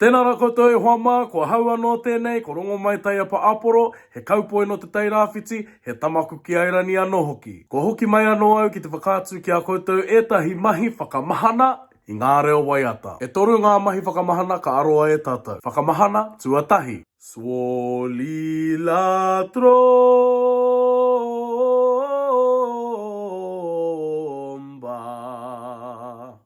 Tēnā ra koutou e hoa mā, ko ahau anō tēnei, ko Rongomai Taiapa Aporo, he kaupoi nō Te Tai Rāwhiti, he tamaku ki Airani anō hoki. Kua hoki mai anō au ki te whakaatu ki a koutou ētahi mahi whakamahana i ngā reo waiata. E toru ngā mahi whakamahana ka aroa e tātou. Whakamahana tuatahi. Swolilatromba.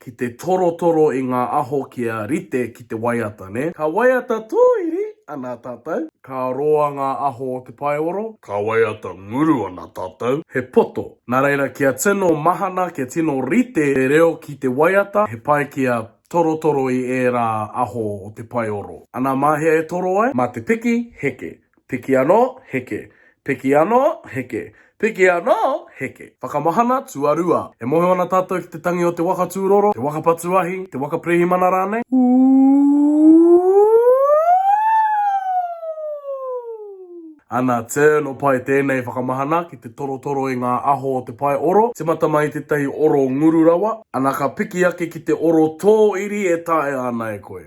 ki te torotoro i ngā aho kia rite ki te waiata, nē? Ka waiata tōiri ana tātou. Ka roa ngā aho o te paeoro. Ka waiata nguru ana tātou. He poto. Nā reira, kia tino mahana, kia tino rite te reo ki te waiata, he pai kia torotoro i ērā aho o te paeoro. Anā, mā hea e toro ai? Mā te piki heke. Piki anō, heke. Piki anō, heke. Piki anō, heke. Whakamahana tuarua. E moho ana tātou ki te tangi o te waka tūroro, te waka patu ahi, te waka pirihimana rānei. Ana turn o pae tēnei whakamahana ki te torotoro i ngā aho o te pae oro, timata mai i tētahi oro nguru rawa. Ana ka piki ake ki te oro tōiri e taea ana e koe.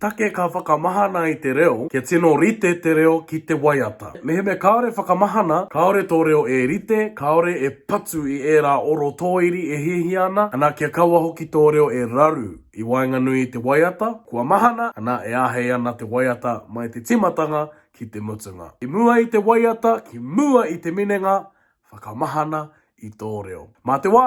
Take ka whakamahana i te reo, kia tino rite te reo ki te waiata. Mehemea kāore whakamahana, kāore tō reo e rite, kāore e patu i ērā oro tōiri e hiahia ana, ana kia kaua hoki tō reo e raru i waenganui i te waiata, kua mahana, ana e āhei ana te waiata mai te tīmatanga ki te mutunga. I mua i te waiata, ki mua i te minenga, whakamahana i tō reo. Mā te wā!